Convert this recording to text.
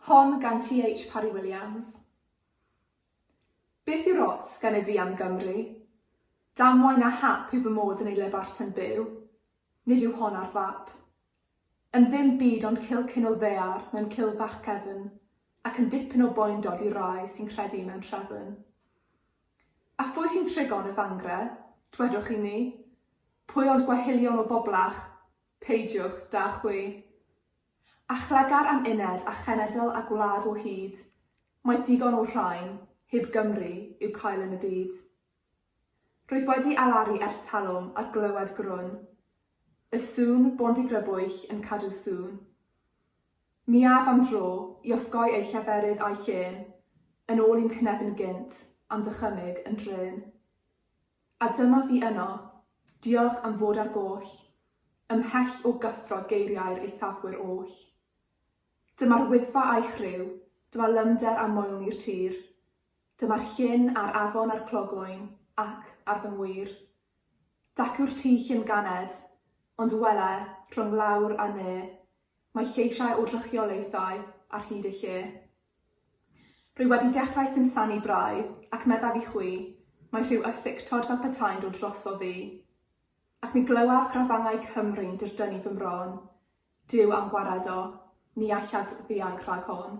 Hon gan TH Parry Williams. Beth yw'r ots gennyf fi am Gymru? Damwain a hap yw fy mod yn ei le Barton byw. Nid yw hon ar fap. Yn ddim byd ond cil cyn o ddear mewn cil fach cefn, ac yn dipyn o boendod i rai sy'n credu mewn trefn. A phwy sy'n trigon y Fangre, dwedwch i mi? Pwy ond gwahilion o boblach, Peidiwch, da chwi. A chlegar am uned a chenedl a gwlad o hyd, mae digon o'r rhain, hyb Gymru, i'w cael yn y byd. Rwyf wedi alaru ers talwm ar glywed grwn y sŵn bondigrybwyll yn cadw sŵn. Mi af am dro i osgoi eu lleferydd a'u llên yn ôl i'm cnefin gynt am ddychymyg yn drên. A dyma fi yno, diolch am fod ar goll, ymhell o gyffro geiriau'r eithafwyr oll. Dyma'r Wyddfa a'i chriw, dyma lymder a moelni'r tir, dyma'r llyn a'r afon a'r clogwyn, ac, ar fy ngwir, dacw'r tŷ llym ganed, ond wele, rhwng lawr a ne, Mae lleisiau o drychiolaethau ar hyd y lle. Rwy wedi dechrau simsanu braidd, ac meddaf i chwi, mae rhyw ysictod fel petai'n dod drosof fi. Ac mi glywaf grafangau Cymru'n dirdynnu fy mron. Duw am gwared o, ni allaf ddianc rhag hon.